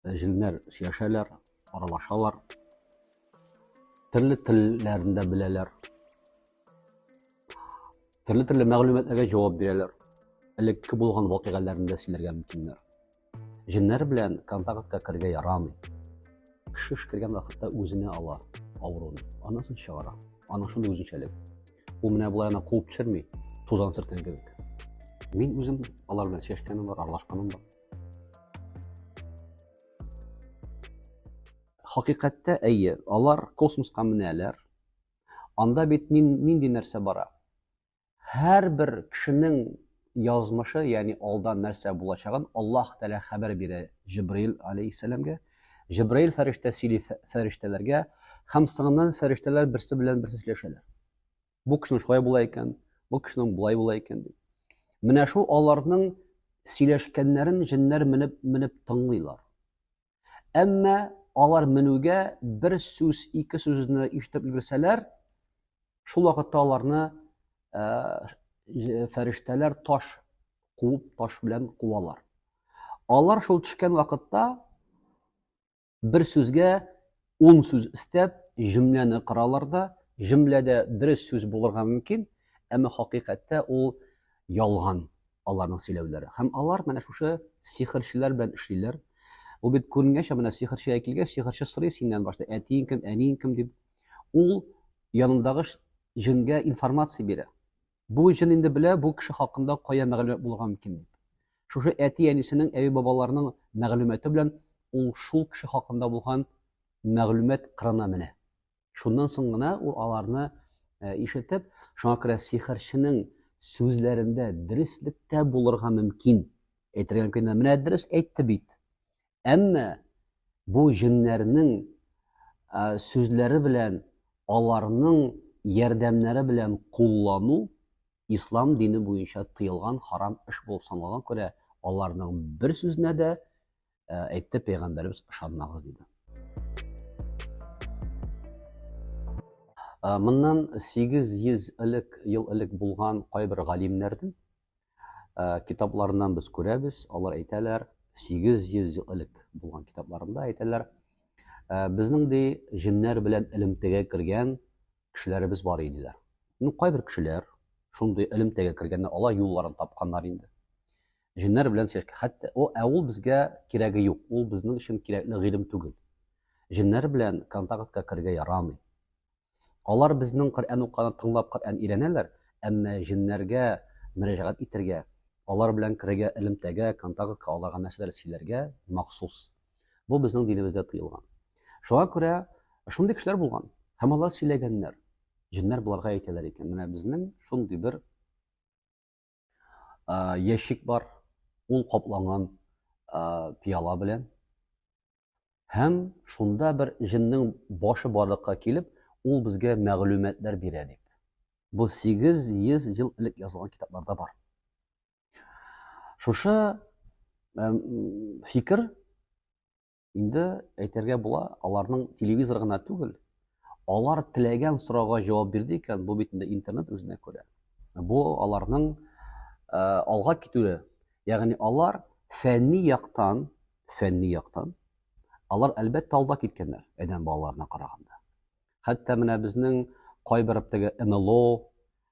Җеннәр сөйләшәләр, аралашалар. Төрле телләрен дә беләләр. Төрле-төрле мәгълүматларга җавап бирәләр. Элекке булган вакыйгаларны да сөйләргә мөмкиннәр. Җеннәр белән контактка кергә ярамый. Кеше кергән вакытта үзенә ала авыруны, аннан соң чыгара. Ана шундый үзенчәлек. Ул менә болай ана куып төшерми, тузан сөрткән кебек. Мин үзем алар белән сөйләшкәнем бар, аралашканым бар. Хакыйкатьтә әйе, алар космоска менәләр. Анда бит нинди нәрсә бара? Һәрбер кешенең язмышы, ягъни алда нәрсә булачагын Аллаһ Тәгалә хәбәр бирә Җибраил алейһиссәламгә. Җибраил фәрештә сөйли фәрештәләргә, һәм соңыннан фәрештәләр берсе белән берсе сөйләшәләр. Бу кешенең шулай була икән, бу кешенең болай була икән дип. Менә шул аларның сөйләшкәннәрен җеннәр менеп менеп тыңлыйлар. Әмма алар менүгә бер сүз, ике сүзне ишетеп өлгерсәләр, шул вакытта аларны э, фәрештәләр таш куып, таш белән куалар. Алар шул төшкән вакытта Бер сүзгә ун сүз өстәп, җөмләне коралар да, җөмләдә дөрес сүз булырга мөмкин, әмма хакыйкатьтә ул ялган аларның сөйләүләре. Һәм алар менә шушы сихерчеләр белән эшлиләр. Ул бит күренгәнчә менә сихерчегә килгәч, сихерче сорый синнән башта, әтиең кем, әниең кем дип. Ул янындагы җенгә информация бирә. Бу җен инде белә бу кеше хакында кая мәгълүмат булырга мөмкин дип. Шушы әти-әнисенең, әби-бабаларының мәгълүматы белән ул шул кеше хакында булган мәгълүмат кырына менә. Шуннан соң гына ул аларны э, ишетеп, шуңа күрә сихерченең сүзләрендә дөреслек тә булырга мөмкин. Әйтергә мөмкин, менә дөрес әйтте бит. Әмма бу җеннәрнең сүзләре белән аларның ярдәмнәре белән куллану ислам дине буенча тыелган харам эш булып саналган күрә аларның бер сүзенә дә әйтте пәйгамбәребез ышанмагыз диде моннан 800 элек ел элек булган кайбер галимнәрнең Э, китапларыннан без күрәбез, алар әйтәләр, 800 ел элек булган китапларында әйтәләр, э, безнең ди җеннәр белән элемтәгә кергән кешеләребез бар иделәр. Ну, кайбер кешеләр шундый элемтәгә кергәннәр, алар юлларын тапканнар инде. Җеннәр белән сөйләшкән. Хәтта о, ә ул безгә кирәге юк. Ул безнең өчен кирәкле гыйлем түгел. Җеннәр белән контактка кергә ярамый. Алар безнең Коръән укуны тыңлап Коръән өйрәнәләр, әмма җеннәргә мөрәҗәгать итәргә, алар белән керергә элемтәгә, контактка, аларга нәрсәләр сөйләргә махсус. Бу безнең динебездә тыелган. Шуңа күрә шундый кешеләр булган һәм алар сөйләгәннәр. Җеннәр боларга әйтәләр икән, менә безнең шундый бер ящик бар, ул капланган пиала белән. Һәм шунда бер җиннең башы барлыкка килеп, ул безгә мәгълүматлар бирә дип. Бу 800 ел элек язылган китапларда бар. Шушы фикер Инде әйтергә була, аларның телевизор гына түгел, алар теләгән сорауга җавап бирде икән, бу бит инде интернет үзенә күрә. Бу аларның э, алга китүе. Ягъни алар фәнни яктан, фәнни яктан алар әлбәттә алда киткәннәр адәм балаларына караганда. Хәтта менә безнең кайбер теге НЛО,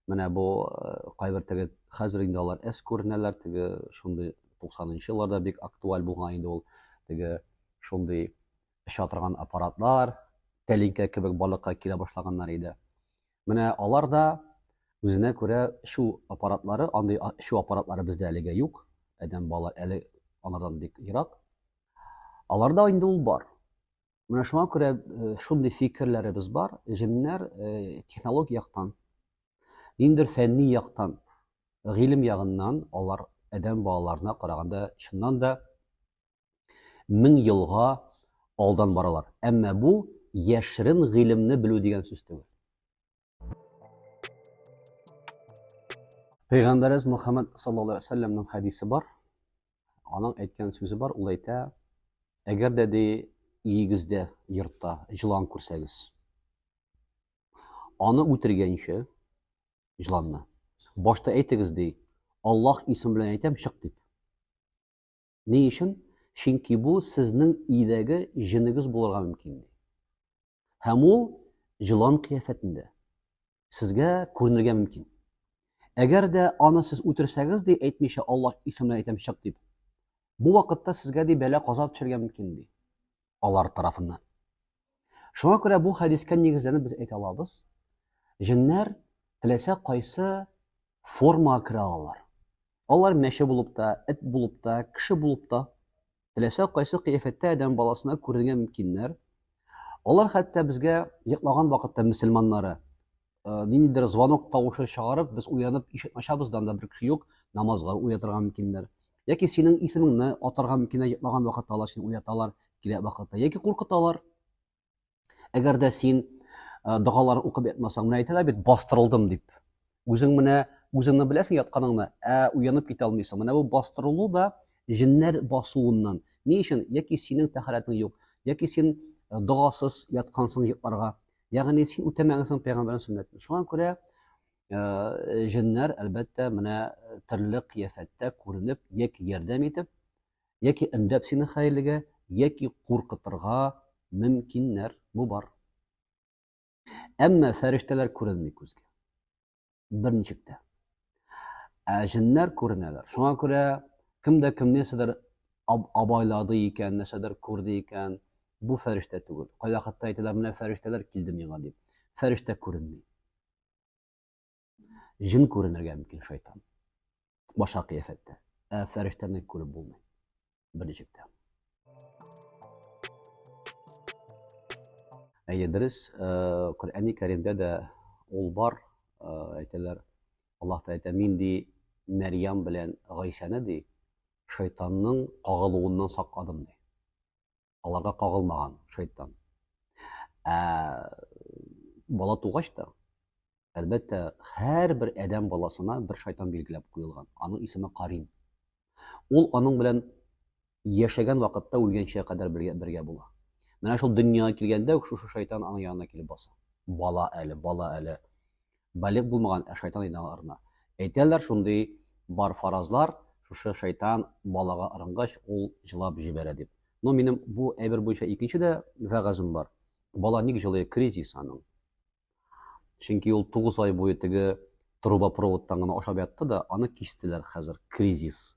Менә бу э, кайбер теге хәзер инде алар эс күренәләр, теге шундый 90-нчы елларда бик актуаль булган инде ул теге шундый оча торган аппаратлар, тәлинкә кебек балыкка килә башлаганнар иде. Менә алар да үзенә күрә шу аппаратлары, андый шу аппаратлары бездә әлегә юк. Адәм балалар әле алардан бик ерак. Аларда инде ул бар. Менә шуңа күрә э, шундый фикерләребез бар, җеннәр э, технологик яктан, ниндидер фәнни яктан, гыйлем ягыннан алар адәм балаларына караганда чыннан да мең елга алдан баралар. Әмма бу яшерен гыйлемне белү дигән сүз түгел. Пәйгамбәрәз Мухаммад саллаллаһу алейһи ва сәлләмнең хәдисе бар. Аның әйткән сүзе бар, ул әйтә: "Әгәр дә ди иегездә йортта җылан күрсәгез, аны үтергәнче җыланны башта әйтегез ди, Аллаһ исеме белән әйтәм, чык дип. Ни өчен? Чөнки бу сезнең өйдәге җенегез булырга мөмкин, ди. Һәм ул җылан кыяфәтендә сезгә күренергә мөмкин. Әгәр дә аны сез үтерсәгез, ди, әйтмичә Аллаһ исеменә әйтәм чык дип, бу вакытта сезгә ди бәла каза төшәргә мөмкин, ди. Алар тарафыннан. Шуңа күрә бу хәдискә нигезләнеп без әйтә алабыз, җеннәр теләсә кайсы форма керә алалар. Алар мәче булып та, эт булып та, кеше булып та, теләсә кайсы кыяфәттә адәм баласына күренергә мөмкиннәр. Алар хәтта безгә йоклаган вакытта мөселманнары э, ниндидер звонок тавышы чыгарып, без уянып ишекне ачабыз да анда бер кеше юк, намазга уятырга мөмкиннәр. Яки синең исемеңне атарга мөмкиннәр, йоклаган вакытта алар сине уяталар, кирәк вакытта. Яки куркыталар. Әгәр дә син э, догалар укып ятмасаң, менә әйтәләр бит, бастырылдым дип. Үзең менә үзеңне беләсең ятканыңны, ә уянып китә алмыйсың. Менә бу бастырылу да җеннәр басуыннан. Ни өчен? Яки синең тәхәрәтең юк, яки син э, догасыз яткансың йокларга. Ягъни син үтәмәгәнсең пәйгамбәрнең сөннәтен. Шуңа күрә э, җеннәр, әлбәттә, менә э, төрле кыяфәттә күренеп, яки ярдәм итеп, яки өндәп сине хәерлегә, яки куркытырга мөмкиннәр. Бу бар. Әмма фәрештәләр күренми күзгә. бер ничек тә. Ә җеннәр күренәләр. Шуңа күрә кем дә кем нәрсәдер абайлады икән, нәрсәдер күрде икән, бу фәрештә түгел. Кайвакытта әйтәләр, менә фәрештәләр килде миңа дип. Фәрештә күренми. Җен күренергә мөмкин шайтан. башка кыяфәттә. Ә фәрештәне күреп булмый. Берничек тә. Әйе, дөрес, э, Коръәни Кәримдә дә ул бар, э, әйтәләр. Аллаһ та әйтә, мин ди Мәрьям белән Гайсәне ди шайтанның кагылуыннан сакладым ди. аларга кагылмаган шайтан. Ә бала тугач та, әлбәттә, һәрбер адәм баласына бер шайтан билгеләп куелган. Аның исеме Карин. Ул аның белән яшәгән вакытта үлгәнчә кадәр бергә, бергә була. Менә шул дөньяга килгәндә үк шушы шайтан аның янына килеп баса. Бала әле, бала әле. Балигъ булмаган, ә шайтан иде аңа ырына. Әйтәләр шундый бар фаразлар, шушы шайтан балага ырынгач, ул җылап җибәрә дип. Но минем бу әйбер буенча икенче дә вәгазем бар. Бала ник җылый, кризис аның. Чөнки ул 9 ай буе теге трубопроводтан гына ашап ятты да, аны кистеләр хәзер, кризис.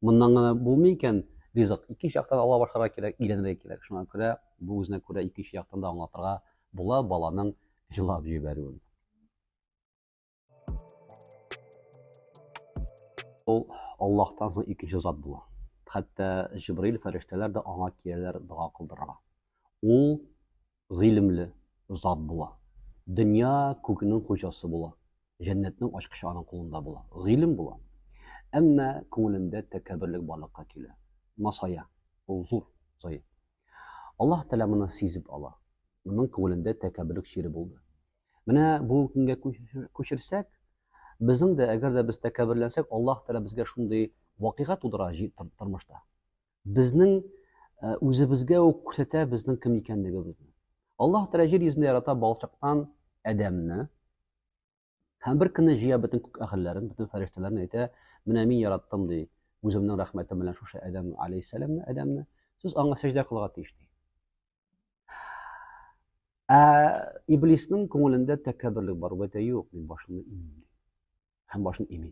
Моннан гына булмый икән, ризык икенче яктан ала башларга кирәк, өйләнергә кирәк. Шуңа күрә бу үзенә күрә икенче яктан да аңлатырга була баланың җылап җибәрүен. Ул Аллаһтан соң икенче зат була. Хәтта Җибраил фәрештәләр дә аңа киләләр дога кылдырырга. Ул гыйлемле зат була. Дөнья күкнең хуҗасы була. Җәннәтнең ачкычы аның кулында була. Гыйлем була. Әмма күңелендә тәкәбберлек барлыкка килә. Масая. Ул зур заем. Аллаһ Тәгалә моны сизеп ала. Моның күңелендә тәкәбберлек чире булды. Менә бу көнгә күчерсәк, безнең дә, әгәр дә без тәкәбберләнсәк, Аллаһ Тәгалә безгә шундый вакыйга тудыра тормышта. Безнең э, үзебезгә үк күрсәтә безнең кем икәнлегебезне. Аллаһ Тәгалә җир йөзендә ярата балчыктан Адәмне һәм бер көнне җыя бөтен күк әһелләрен, бөтен фәрештәләрен әйтә, менә мин яраттым ди, үземнең рәхмәтем белән шушы Адәм алейһиссәламне, Адәмне. Сез аңа сәҗдә кылырга тиеш ди. Ә иблиснең күңелендә тәкәбберлек бар, бәтә юк, мин башымны имим. Һәм башын ими.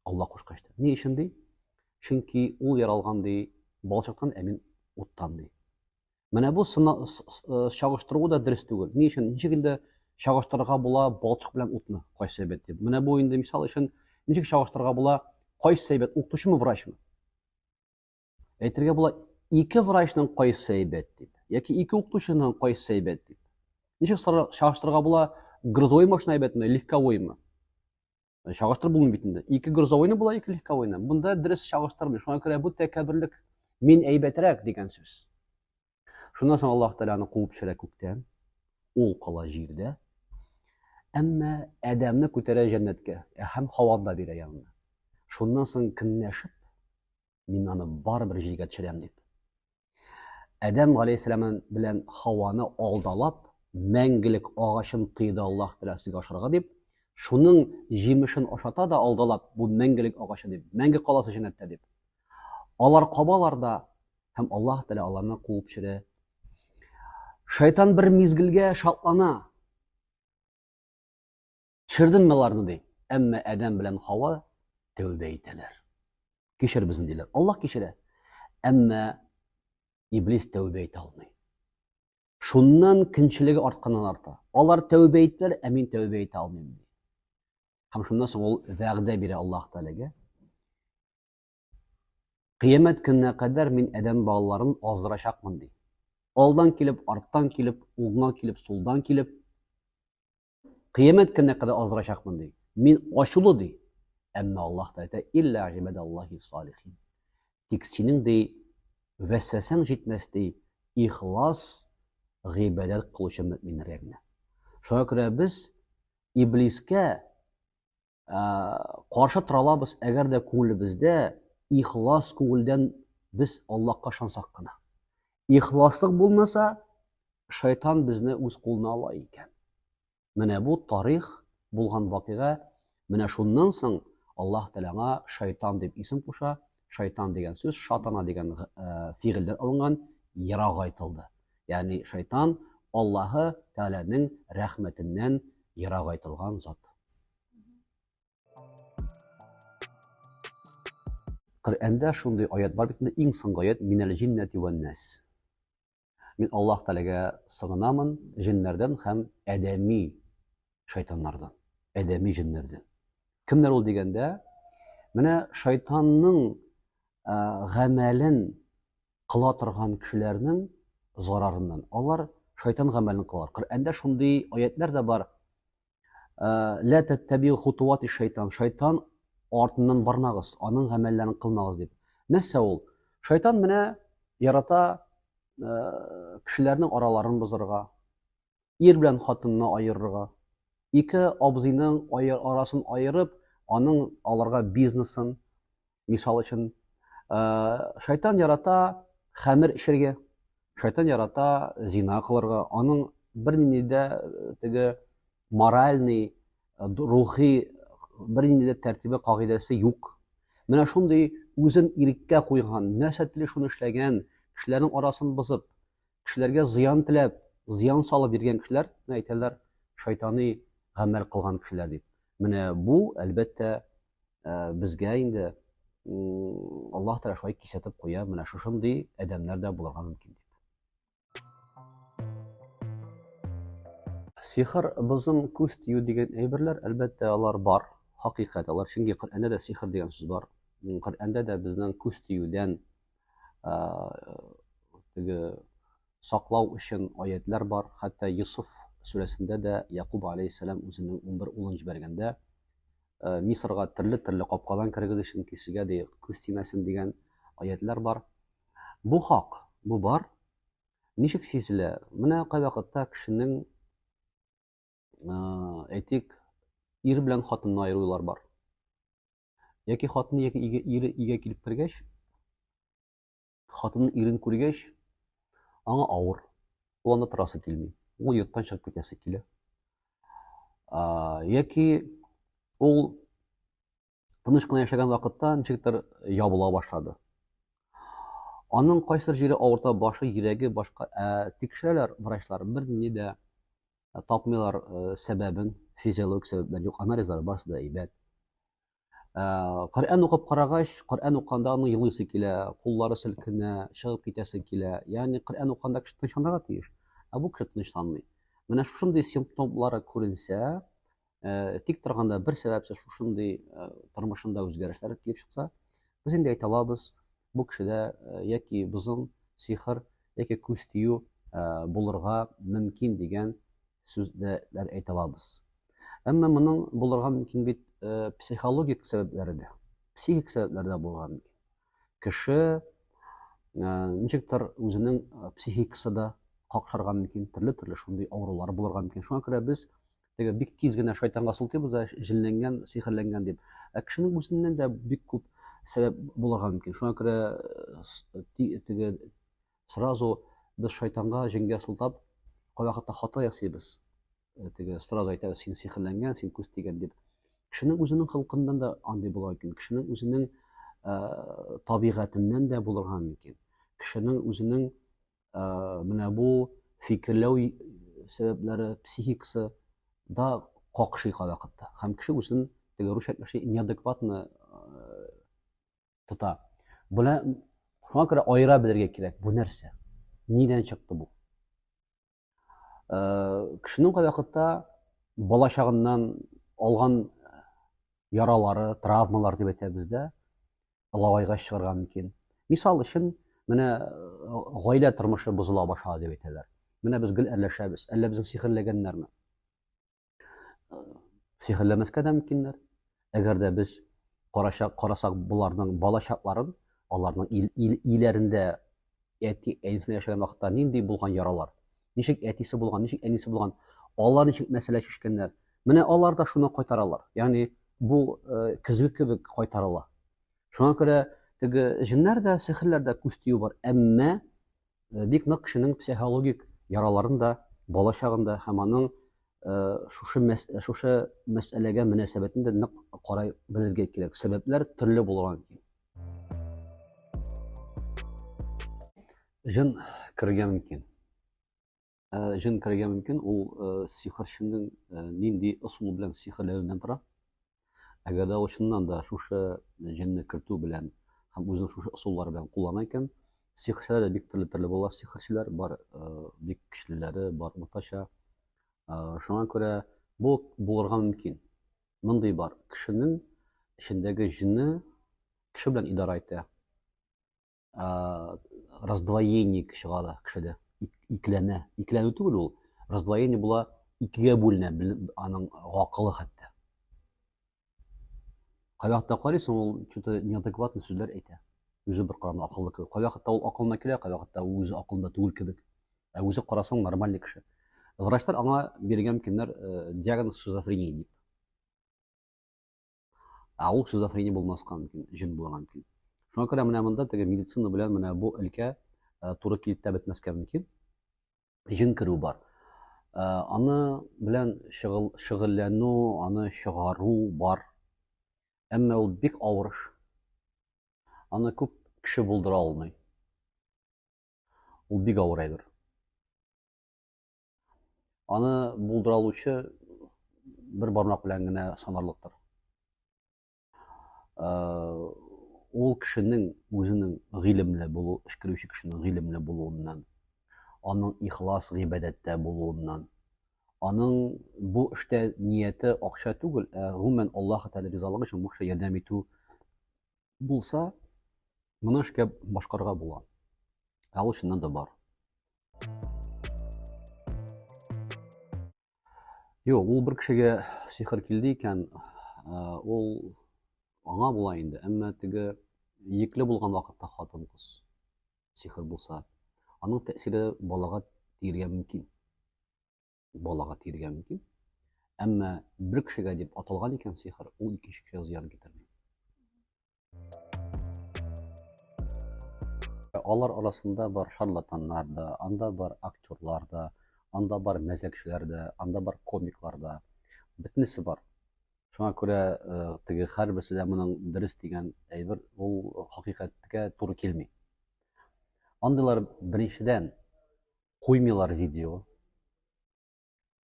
Алла кушкач та. Ни өчен ди? Чөнки ул яралган ди, балчыктан ә мин уттан ди. Менә бу э, чагыштыру да дөрес түгел. Ни өчен? Ничек инде чагыштырырга була балчык белән утны? Кайсы әйбәт дип. Менә бу инде мисал өчен ничек чагыштырырга була? Кайсы әйбәт, укытучымы, врачмы? Әйтергә була, ике врачның кайсы әйбәт дип, яки ике укытучының кайсы әйбәт дип. Ничек чагыштырырга була, грузовой машина әйбәтме, легковоймы? Э, чагыштырып булмый бит инде. Ике грузовойны була, ике легковойны. Бунда дөрес чагыштырмый. Шуңа күрә бу тәкәбберлек мин әйбәтрәк дигән сүз. Шуннан соң Аллаһ Тәгаләне куып төшерә күктән. Ул кала җирдә. Әмма Адәмне күтәрә җәннәткә һәм Хаваны да бирә янына. Шуннан соң көнләшеп мин аны барыбер җиргә төшерәм дип. Адәм галәйһиссәлам белән Хаваны алдалап, мәңгелек агачын тыйды Аллаһ Тәгалә сезгә ашарга дип, шуның җимешен ашата да алдалап, бу мәңгелек агачы дип, мәңге каласы җәннәттә дип. Алар кабалар да һәм Аллаһ Тәгалә аларны куып төшерә. Шайтан бер мизгелгә шатлана, Төшердем мин аларны ди. Әмма Адәм белән Хава тәүбә итәләр. Кичер безне диләр. Аллаһ кичерә. Әмма Иблис тәүбә итә алмый. Шуннан кинчелеге артканнан арта. Алар тәүбә иттеләр, ә мин тәүбә итә алмыйм ди. Һәм шуннан соң ул вәгъдә бирә Аллаһ Тәгаләгә. Кыямәт көненә кадәр мин Адәм балаларын аздырачакмын ди. Алдан килеп, арттан килеп, уңга килеп, сулдан килеп, Кыямәт көненә кадәр аздырачакмын ди. Мин ачулы ди. Әмма Аллаһ та әйтә, илля гибадаллахи салихин. Тик синең ди вәсвәсәң җитмәс ди, ихлас гыйбадәт кылучы мөэминнәргә генә. Шуңа күрә без иблискә каршы тора алабыз, әгәр дә күңелебездә ихлас күңелдән без Аллаһка ышансак кына. Ихласлык булмаса, шайтан безне үз кулына ала икән. Менә бу тарих булган вакыйга. Менә шуннан соң Аллаһ Тәгаләга шайтан дип исем куша, Шайтан дигән сүз шатана дигән э, фигыльдән алынган, ерак айтылды. Ягъни шайтан Аллаһы Тәгаләнең рәхмәтеннән ерак айтылган зат. Коръәндә шундый аят бар бит, иң соңгы аят минәл җиннәти ван нас. Мин Аллаһ Тәгаләгә сыгынамын җеннәрдән һәм адәми шайтаннардан, адәми җеннәрдән. Кемнәр ул дигәндә, менә шайтанның гамәлен кыла торган кешеләрнең зарарыннан. Алар шайтан гамәлен кылар. Коръәндә шундый аятлар да бар. Лә тәттәбил хутуат шайтан. Шайтан артыннан бармагыз, аның гамәлләрен кылмагыз дип. Нәрсә ул? Шайтан менә ярата кешеләрнең араларын бозырга, ир белән хатынны аерырга, ике абзыйның арасын аерып, аның аларга бизнесын, Мисал өчен, шайтан ярата хәмер эчергә, шайтан ярата зина кылырга, аның бернинди дә теге моральный, рухи бернинди дә тәртибе, кагыйдәсе юк. Менә шундый үзен иреккә куйган, нәрсә тели шуны эшләгән, кешеләрнең арасын бозып, кешеләргә зыян теләп, зыян салып йөргән кешеләр, әйтәләр, шайтаны гамәл кылган кешеләр дип. Менә бу, әлбәттә, ә, безгә инде Аллаһ Тәгалә шулай кисәтеп куя, менә шушындый адәмнәр дә булырга мөмкин дип. Сихр, бозым, күз тию дигән әйберләр, әлбәттә, алар бар, хакыйкать алар. Чөнки Коръәндә дә сихр дигән сүз бар. Коръәндә дә безнең күз тиюдән теге саклау өчен аятлар бар. Хәтта Йосыф сүрәсендә дә Якуб алейхиссалам үзенең 11 улын җибәргәндә, э, Мисырга төрле-төрле капкадан керегез өчен кешегә дә күз тимәсен дигән аятлар бар. Бу хак, бу бар. Ничек сизелә? Менә кайвакытта кешенең э, әйтик, ир белән хатынны айырулар бар. Яки хатыны яки ире игә килеп кергәч, Хатын ирен күргәч, аңа авыр. Ул анда торасы килми. Ул йорттан чыгып китәсе килә. Яки ул тыныч кына яшәгән вакытта ничектер ябыла башлады. Аның кайсыр җире авырта, башы, йөрәге, башка. Ә тикшерәләр врачлар, берни дә тапмыйлар сәбәбен, физиологик сәбәпләр юк, анализлар барысы да әйбәт. Коръән укып карагач, Коръән уканда аны елыйсы килә, куллары селкенә, чыгып китәсе килә. Ягъни Коръән уканда кеше тынычланырга тиеш, ә бу кеше тынычланмый. Менә шушындый симптомлары күренсә, э, тик торганда бер сәбәпсез шушындый э, тормышында үзгәрешләр килеп чыкса, без инде әйтә алабыз, бу кешедә э, яки бозым, сихр, яки күз тию булырга мөмкин дигән сүзләр әйтә алабыз. Әмма моның булырга мөмкин бит э, психологик сәбәпләре дә, психик сәбәпләр дә булырга мөмкин. Кеше э, ничектер үзенең э, психикасы да какшарга мөмкин, төрле-төрле шундый авырулар булырга мөмкин. Шуңа күрә без теге бик тиз генә шайтанга сылтыйбыз да, җенләнгән, сихерләнгән дип. Ә кешенең үзеннән дә бик күп сәбәп булырга мөмкин. Шуңа күрә теге сразу без шайтанга, җенгә сылтап, кайвакытта хата ясыйбыз. Э, теге сразу әйтәбез, син сихерләнгән, син күз тигән дип. Кешенең үзенең хылкыннан да андый була икән. Кешенең үзенең э, табигатеннән дә булырга мөмкин. Кешенең үзенең э, менә бу фикерләү сәбәпләре, психикасы да какшый кайвакытта. Һәм кеше үзен теге русча әйтмешли неадекватно тота. Була шуңа күрә аера белергә кирәк. Бу нәрсә? Нидән чыкты бу? Э, кешенең кай вакытта бала чагыннан алган яралары, травмалар дип әйтәбез дә, лавайга чыгарга мөмкин. Мисал өчен, менә э, гаилә тормышы бозыла башлады дип әйтәләр. Менә без гел әрләшәбез. Әллә безне сихерләгәннәрме? сихерләмәскә дә мөмкиннәр. Әгәр дә без карачак, карасак боларның балачакларын, аларның ил, ил, иләрендә әти әнисенә яшәгән вакытта нинди булган яралар, ничек әтисе булган, ничек әнисе булган, алар ничек мәсьәлә чишкәннәр. Менә алар да шуны кайтаралар. Ягъни бу э, көзге кебек кайтарыла. Шуңа күрә теге җеннәр дә, сихерләр дә күз тию бар. Әмма э, бик нык кешенең психологик яраларын да бала чагында һәм аның э, шушы мәс, шушы мәсьәләгә мөнәсәбәтен дә нык карай белергә кирәк. Сәбәпләр төрле булган ки. Җын кергән мөмкин. Э, җен керергә мөмкин ул э, сихерченең э, нинди ысул белән сихерләвеннән тора әгәр дә ул чыннан да шушы җенне кертү белән һәм үзенең шушы ысуллары белән куллана икән сихерчеләр дә бик төрле төрле була сихерчеләр бар бик көчлеләре бар уртача шуңа күрә бу булырга мөмкин мондый бар кешенең эчендәге җенне кеше белән идарә итә э, раздвоенник чыга да кешедә икеләнә икеләнү түгел ул раздвоение була икегә бүленә аның гакылы хәтта кай вакытта карыйсың ул что то неадекватный сүзләр әйтә үзе бер караганда акыллы кебек кай вакытта ул акылына килә кай вакытта ул үзе акылында түгел кебек ә үзе карасаң нормальный кеше врачлар аңа биргән мөмкиннәр э, диагноз шизофрения дип Ә ул шизофрения булмаска мөмкин, җен булырга мөмкин. Шуңа күрә менә монда теге медицина белән менә бу өлкә э, туры килеп тә бетмәскә мөмкин. Җен керү бар. Э, аны белән шөгыль, шөгыльләнү, аны чыгару бар. Әмма ул бик авыр эш. Аны күп кеше булдыра алмый. Ул бик авыр әйбер. Аны булдыра алучы бер бармак белән генә санарлыктыр. Э, ул кешенең үзенең гыйлемле булу, эшкәрүче кешенең гыйлемле булуыннан, аның ихлас гыйбадәттә булуыннан, аның бу эштә нияте акча түгел, ә гомумән Аллаһ Тәгалә ризалыгы өчен бу кешегә ярдәм итү Булса, моны эшкә башкарга була. Ә ул чыннан да бар. Юк, ул бер кешегә сихер килде икән, ул аңа була инде, әмма теге екле булган вакытта хатын кыз сихер булса, аның тәэсире балага тиергә мөмкин. балага тиергә мөмкин. Әмма бер кешегә дип аталган икән сихер, ул икенче кешегә зыян китерми. Алар арасында бар шарлатаннар да, анда бар актерлар да, анда бар мәзәкчеләр дә, анда бар комиклар да. Бөтенесе бар. Шуңа күрә э, теге һәрберсе дә моның дөрес дигән әйбер ул хакыйкатькә туры килми. Андыйлар беренчедән куймыйлар видео.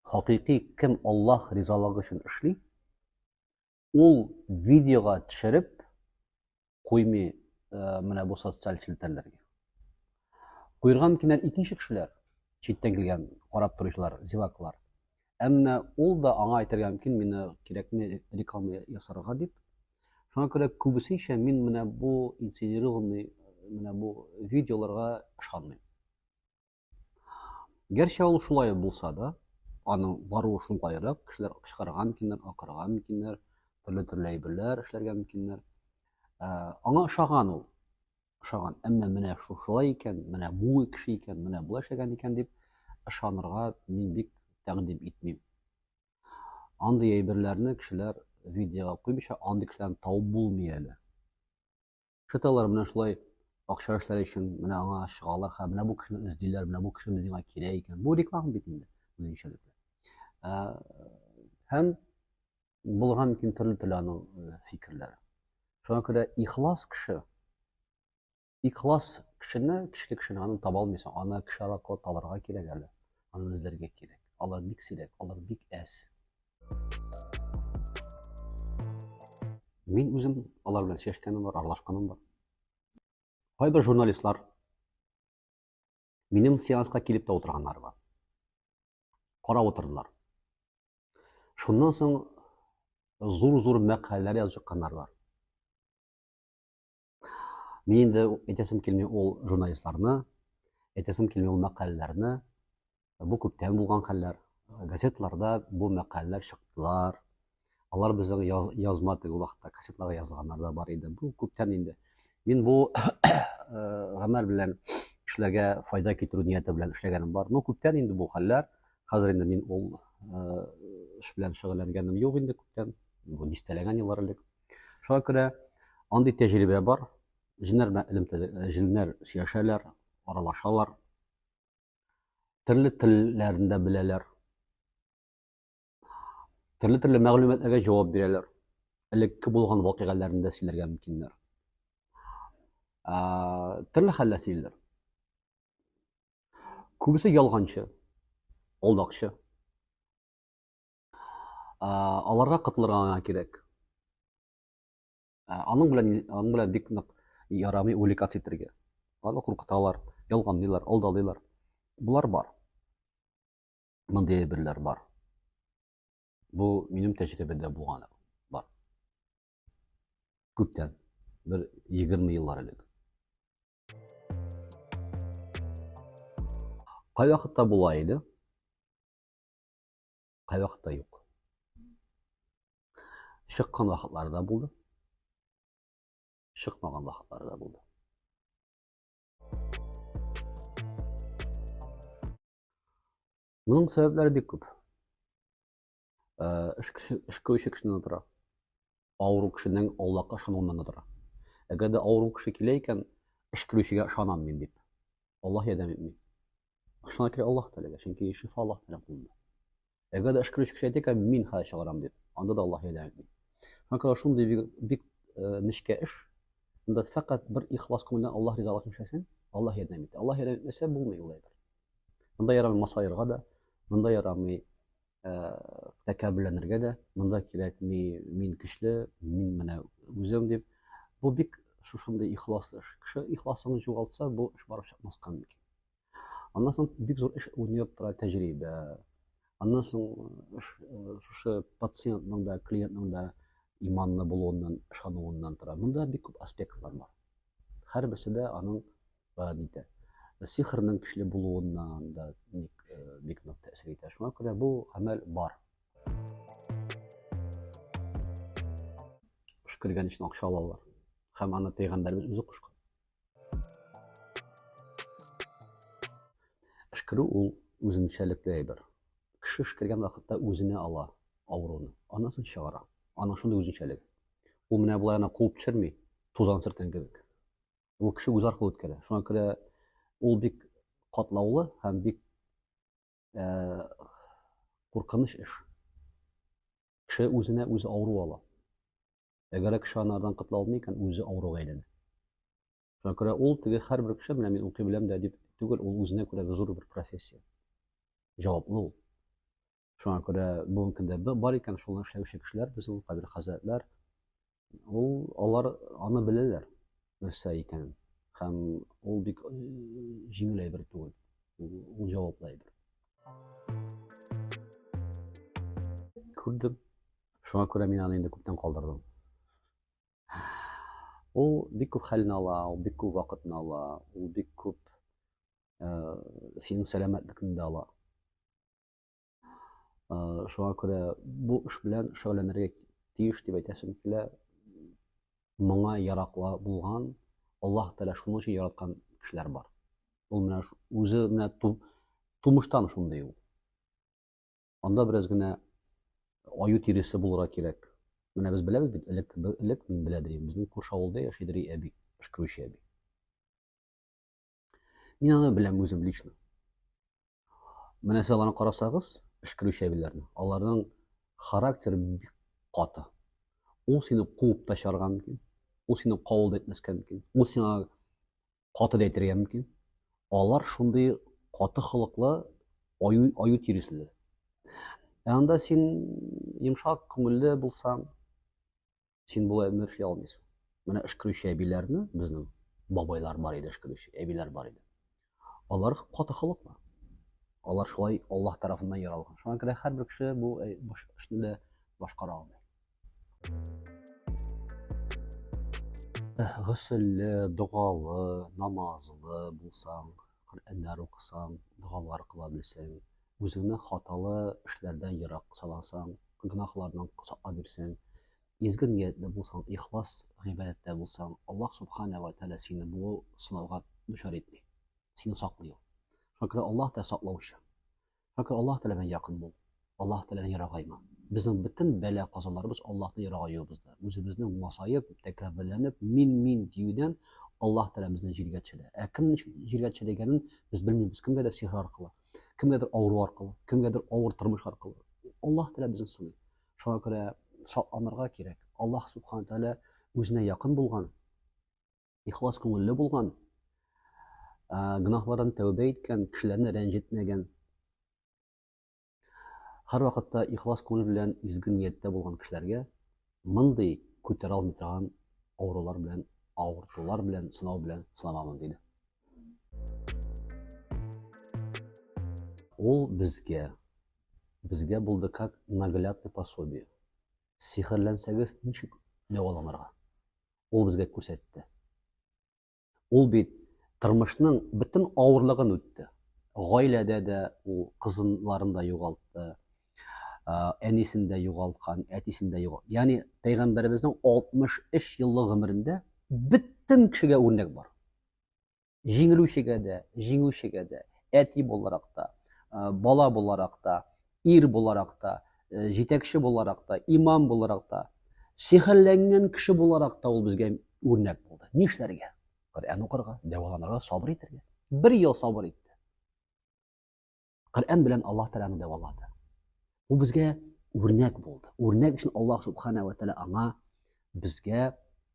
Хакыйкый кем Аллаһ ризалыгы өчен эшли, ул видеога төшереп куймый э, менә бу социаль челтәрләргә. Куйырга мөмкиннәр икенче кешеләр, читтән килгән карап торучылар, зеваклар. Әмма ул да аңа әйтергә мөмкин, мені кирәкме реклама ясарга дип. Шуңа күрә күбесенчә мин менә бу инсценированный, менә бу видеоларга ышанмыйм. Гәрчә ул шулай булса да, аның баруы шулайрак, кешеләр кычкырырга мөмкиннәр, акырырга мөмкиннәр, төрле төрле әйберләр эшләргә мөмкиннәр. Ә, аңа ошаган ул. Ошаган. Әмма менә шушылай икән, менә бу кеше икән, менә бу эшләгән икән дип ышанырга мин бик тәкъдим итмим. Андый әйберләрне кешеләр видеога куймыйча, андый кешеләрне табып булмый әле. Шыталар менә шулай акча эшләре өчен менә аңа чыгалар, һәм менә бу кешене эзлиләр, менә бу кеше безгә кирәк икән. Бу реклама бит инде үзенчәлекле. Һәм булган мөмкин төрле төрле аның фикерләре. Шуңа күрә ихлас кеше ихлас кешене, кешелек кешене аны таба алмыйсың. Аны кеше аракылы табарга кирәк әле. Аны эзләргә кирәк. Алар бик сирәк, алар бик әз. Мин үзем алар белән сөйләшкәнем бар, аралашканым бар. Кайбер журналистлар минем сеансқа килеп тә утырганнар бар. Карап утырдылар. Шуннан соң зур-зур мәкаләләр язып чыкканнар бар. Мин инде әйтәсем килми ул журналистларны, әйтәсем килми ул мәкаләләрне. Бу күптән булган хәлләр. Газеталарда бу мәкаләләр чыктылар. Алар безнең яз, язма теге вакытта кассетларга язылганнар да бар иде. Бу күптән инде. Мин бу гамәл белән кешеләргә файда китерү нияте белән эшләгәнем бар. Ну, күптән инде бу хәлләр. Хәзер инде мин ул эш белән шөгыльләнгәнем юк инде күптән. Бу дистәләгән еллар элек. Шуңа күрә андый тәҗрибә бар. Җеннәр белән элемтәдә җеннәр сөйләшәләр, аралашалар. Төрле телләрен дә беләләр. Төрле-төрле мәгълүматларга җавап бирәләр. Элекке булган вакыйгаларны да сөйләргә мөмкиннәр. Төрле хәлләр сөйлиләр. Күбесе ялганчы, алдакчы. аларга котылырга гына кирәк аның белән аның белән бик нык ярамый увлекаться итәргә аны куркыталар ялганлыйлар алдалыйлар болар бар мондый әйберләр бар бу минем тәҗрибәдә булган бар күптән бер егерме еллар элек кайвакытта була иде Кайвакытта юк. Чыккан вакытлары да булды. Чыкмаган вакытлары да булды. Моның сәбәпләре бик күп. Э, эш кеше, эш кешенә тора. авыру кешенең Аллаһка ышануыннан да тора. Әгәр дә авыру кеше килә икән, эшкерүчегә ышанам мин дип, Аллаһ ярдәм итми. Ышана керә Аллаһ теләгә, чөнки шифа Аллаһ белән кулында. Әгәр дә эшкерүче кеше әйтә икән, мин хәзер чыгарам дип, анда да Аллаһ ярдәм итми. Хакыра шундый бик, бик э, нечкә эш. Анда фәкать бер ихлас күңелдән Аллаһ ризалыгын эшләсәң, Аллаһ ярдәм итә. Аллаһ ярдәм итмәсә булмый ул әйбер. Монда ярамый масаерга да, монда ярамый тәкәбберләнергә дә монда кирәкми мин көчле мин менә үзем дип бу бик шушындый ихлас эш кеше ихласын югалтса бу эш барып чыкмаска мөмкин аннан соң бик зур эш уйнап тора тәҗрибә аннан соң шушы пациентның да клиентның да иманлы булуыннан ышануыннан тора монда бик күп аспектлар бар һәрберсе дә аның гадидә сихрның көчле булуыннан да ник бик нык тәэсир итә шуңа күрә бу гамәл бар кош кергән өчен акча алалар һәм аны пәйгамбәребез үзе кушкан Эшкерү ул үзенчәлекле әйбер. Кеше эшкергән вакытта үзенә ала авыруны, анасын чыгара. Аның шундый үзенчәлеге. Ул менә болай гына куып төшерми, тузан сөрткән кебек. ул кеше үз аркылы үткәрә. Шуңа күрә ул бик катлаулы һәм бик ә, куркыныч эш. Кеше үзенә үзе авыру ала. Әгәр кеше анардан котыла алмый икән, үзе авыруга әйләнә. Шуңа күрә ул теге һәрбер кеше менә мин укый беләм дә дип түгел, ул үзенә күрә зур бер профессия. Җаваплы ул. Шуңа күрә бүгенге көндә бар икән шуны эшләүче кешеләр, безнең кабер хәзрәтләр, ул алар аны беләләр, нәрсә икәнен. Һәм ул бик э, җиңел әйбер түгел. Ул җаваплы әйбер. Күрдем. Шуңа күрә мин аны инде күптән калдырдым. Ул бик күп хәлне ала, ул бик күп вакытны ала, ул бик күп э, синең сәламәтлекне дә ала. Шуңа күрә бу эш белән шөгыльләнергә тиеш дип әйтәсем килә. Моңа яраклы булган, Аллаһ Тәгалә шуның өчен яраткан кешеләр бар. Ул менә үзе менә тумыштан шундый ул. Анда бераз генә аю тиресе булырга кирәк. Менә без беләбез бит, элек элек мин беләдер идем, безнең күрше авылда яшидер әби, эшкерүче әби. Мин аны беләм үзем лично. Менә сез аларны карасагыз, эшкерү чәбиләрне, аларның характер бик каты. Ул сине куып та чарга мөмкин, ул сине кавыл да итмәскә мөмкин, ул сиңа каты да әйтергә мөмкин. Алар шундый каты холыклы аю, аю тиресле. Ә анда син йомшак күңелле булсаң, Син болай гомер эшли алмыйсың. Менә эшкерүче әбиләрне безнең бабайлар бар иде эшкерүче, әбиләр бар иде. Алар каты халыклар. Алар шулай Аллаһ тарафыннан яралган. Шуңа күрә һәрбер кеше бу э, эшне дә башкара алмый. Гөсөлле, догалы, намазлы булсаң, Коръәннәр укысаң, догалар кыла белсәң, Үзеңне хаталы эшләрдән ерак саласаң, гөнаһлардан саклап бирсәң, изге ниятле булсаң, ихлас гыйбадәттә булсаң, Аллаһ Субхана ва Тәгалә сине бу сынауга дучар итми. Сине саклый ул. Шуңа күрә Аллаһ Тәгалә саклаучы. Шуңа күрә Аллаһ Тәгалә белән якын бул. Аллаһ Тәгаләдән ерагайма. Безнең бөтен бәла казаларыбыз Аллаһтан ерагаюыбызда. Үзебезнең масаеп, тәкәбберләнеп, мин-мин диюдән Аллаһ Тәгалә безне җиргә төшерә. Ә кемнең җиргә төшерелгәнен без белмибез. Кемгәдер сихер аркылы, кемгәдер авыру аркылы кемгәдер авыр тормыш аркылы аллаһ тәала безне сыный шуңа күрә шатланырга кирәк аллаһ субхана тәала үзенә якын булган ихлас күңелле булган гөнаһлардан тәүбә иткән кешеләрне рәнҗетмәгән һәрвакытта ихлас күңел белән изге нияттә булган кешеләргә Мондый күтәрә алмый торган авырулар белән, авыртулар белән, сынау белән сынамамын диде. Ул безгә, безгә булды как наглядный пособие. Сихерләнсәгез, ничек дәваланырга? Ул безгә күрсәтте. Ул бит тормышның бөтен авырлыгын үтте. Гаиләдә дә ул кызынларын да югалтты, әнисен дә югалткан, әтисен дә югалткан. Ягъни пәйгамбәребезнең 63 еллык гомерендә бөтен кешегә үрнәк бар. Җиңелүчегә дә, җиңүчегә дә, әти буларак та, бала буларак та, ир буларак та, э, җитәкче буларак та, имам буларак та, сихерләнгән кеше буларак та ул безгә үрнәк булды. Нишләргә? Коръән укырга, дәваланырга, сабыр итәргә. Бер ел сабыр итте. Коръән белән Аллаһ Тәгаләне дәвалады. Ул безгә үрнәк булды. Үрнәк өчен Аллаһ Субхана ва Тәгалә аңа безгә